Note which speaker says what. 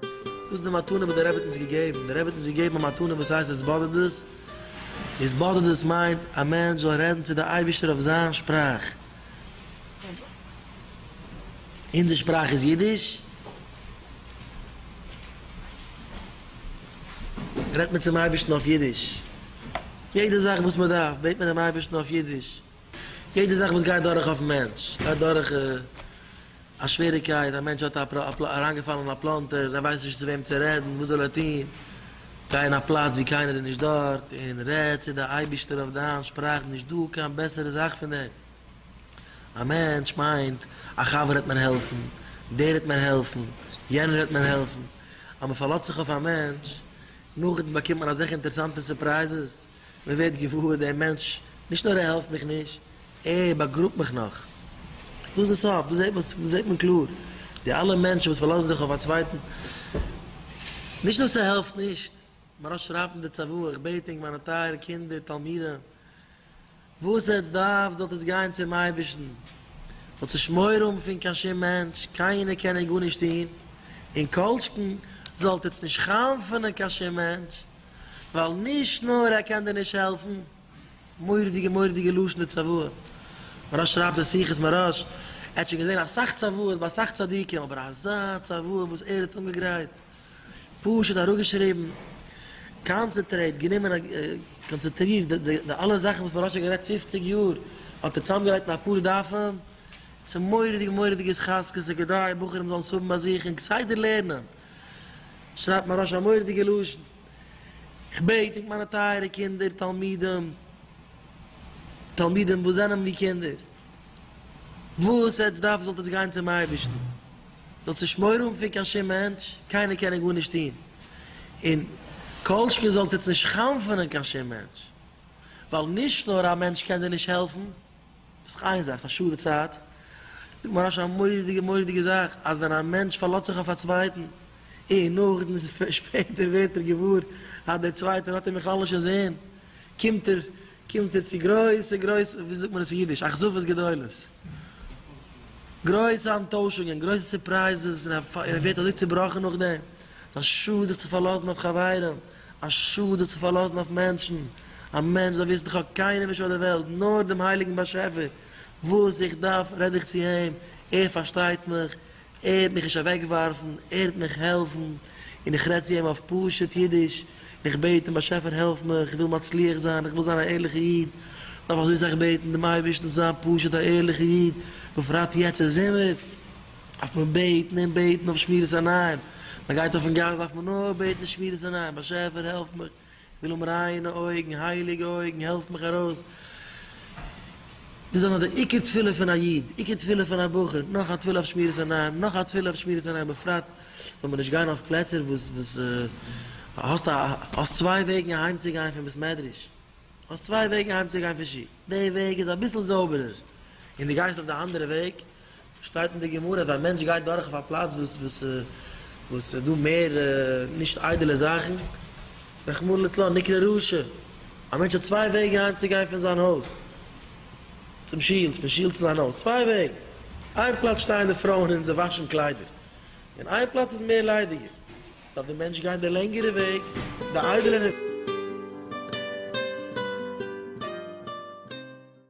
Speaker 1: דאס איז די מתנה וואס דער רבי האט אונז געגעבן, דער רבי האט אונז געגעבן א מתנה וואס הייסט התבודדות, התבודדות מיינט א מענטש זאל רעדן צו די אייבערשטער אויף זיין שפראך, אונזער שפראך איז אידיש, רעדט מען צום אייבערשטן אויף אידיש, יעדע זאך וואס מען דארף בעט מען דעם אייבערשטן אויף אידיש, יעדע זאך וואס גייט דורך אויפן מענטש, גייט דורך א שוועריקייט, א מענטש האט אריינגעפאלן אין א פלאנטער, ער ווייסט נישט צו וועם צו רעדן, וואס זאל ער טון, גיי אין א פלאץ ווי קיינער איז נישט דארט און רעד צו די אייבישטער אויף דיין שפראך, נישט דא קיין בעסערע זאך פון דעם. א מענטש מיינט, א חבר וועט מיר העלפן, דער וועט מיר העלפן, יענער וועט מיר העלפן, אז מען פארלאזט זיך אויף א מענטש, נאכדעם באקומט מען אזעלכע אינטערעסאנטע סורפרייזעס. מען ווערט געוואר דער מענטש נישט נאר ער העלפט מיך נישט, ער באגראבט מיך נאך. דאס איז די סוף, דא זעט מען קלאר די אלע מענטשן וואס פארלאזן זיך אויף א צווייטן, נישט נאר ס'העלפט נישט, מרא שרייבט אין די צוואה, איך בעט ענק מיינע טייערע קינדער תלמידים, וואס עטץ דארפט זאלט עטץ גיין צום אייבערשטן, זאלט נישט מורא האבן פון קיין שום מענטש, קיינער קען אייך גארנישט טון, און כל שכן זאלט עטץ נישט חנפ'ענען קיין שום מענטש, ווייל נישט נאר ער קען דיר נישט העלפן, מורא'דיגע מורא'דיגע לשון די צוואה, מהרש שרייבט אין שיחות מהרש, ער האט שוין געזען אסאך צוואות ביי אסאך צדיקים, אבער אזא צוואה וואס ער האט אנגעגרייט, פשוט אראפגעשריבן, קאנצעטרעיט, גענומען א קאנצעטרירט די די די אלע זאכן וואס מען האט שוין גערעדט פופציג יאר האט ער צוזאמגעלייגט אין אפאר דפים, ס'איז מורא'דיג מורא'דיג התחזקות ס'איז כדאי בחורים זאלן ס'האבן ביי זיך און כסדר לערנען, שרייבט מהרש א א מורא'דיגע לשון, כ'בעט ענק מיינע טייערע קינדער תלמידים תלמידים וואס זענען ווי קינדער, וואס עטץ דארפן זאלט עטץ גיין צום אייבערשטן, זאל ציש מורא האבן פון קיין שום מענטש, קיינער קען אים גארנישט טון, און כל שכן זאלט איצט נישט חנפ'ענען קיין שום מענטש, ווייל נישט נאר א מענטש קען דיר נישט העלפן, דאס איז איין זאך, ס'איז א שאדע צייט, זאגט מוהרא ש א מורא'דיגע מורא'דיגע זאך, אז ווען א מענטש פארלאזט זיך אויף א צווייטן, און נאכדעם שפעטער ווערט ער געוואר אז דער צווייטער האט אים בכלל נישט אינזין, קומט ער קומט ער צו גרויסע גרויסע, ווי זאגט מען עס אין אידיש, אכזבות גדולות. גרויסע אנטוישונגען, גרויסע סורפרייזעס, און ער ווערט אזוי צובראכן נאכדעם. ס'איז א שאד זיך צו פארלאזן אויף חברים, א שאד זיך צו פארלאזן אויף מענטשן. א מענטש זאל וויסן, איך האב קיינעם נישט אויף דער וועלט, נאר דעם הייליגן באשעפער. וואס איך דארף, רעד איך צו אים, ער פארשטייט מיך, ער וועט מיך נישט אוועקווארפן, ער וועט מיך העלפן, און איך רעד צו אים אויף פשוט אידיש, און איך בעט אים, באשעפער העלף מיך, איך וויל מצליח זיין, איך וויל זיין א ערליכע איד, מען דארף אזוי סאך בעטן דעם אייבערשטן צו זיין פשוט א ערליכע איד, בפרט יעצט אין זומער, דארף מען בעטן און בעטן אויף שמירת עיניים, מען גייט אויפן גאס דארף מען נאר בעטן שמירת עיניים, באשעפער העלף מיך, כ'וויל האבן ריינע אויגן, הייליגע אויגן, העלף מיך ארויס. דאס זענען די עיקר תפילה פון א איד, עיקר תפילה פון א בחור, נאך א תפילה אויף שמירת עיניים, נאך א תפילה אויף שמירת עיניים, בפרט זאל מען נישט גיין אויף פלעצער וואס וואס האסט א האסט צוויי וועגן אהיים צו גיין פון בית מדרש, האסט צוויי וועגן אהיים צו גיין פון שול, די וועג איז אביסל זויבערער און דו גייסט אויף די אנדערע וועג, שטייט אין די גמרא אז א מענטש גייט דורך אויף א פלאץ וואס וואס ס'איז דא מער נישט איידעלע זאכן, רחמנא לצלן, נקרא רשע, א מענטש האט צוויי וועגן אהיים צו גיין פון זיין הויז צום שול, פון שול צו זיין הויז, צוויי וועגן, איין פלאץ שטייען די פרויען און זיי וואשן קליידער, און איין פלאץ איז מער ליידיגער, דארף די מענטש גיין די לענגערע וועג, די איידעלערע.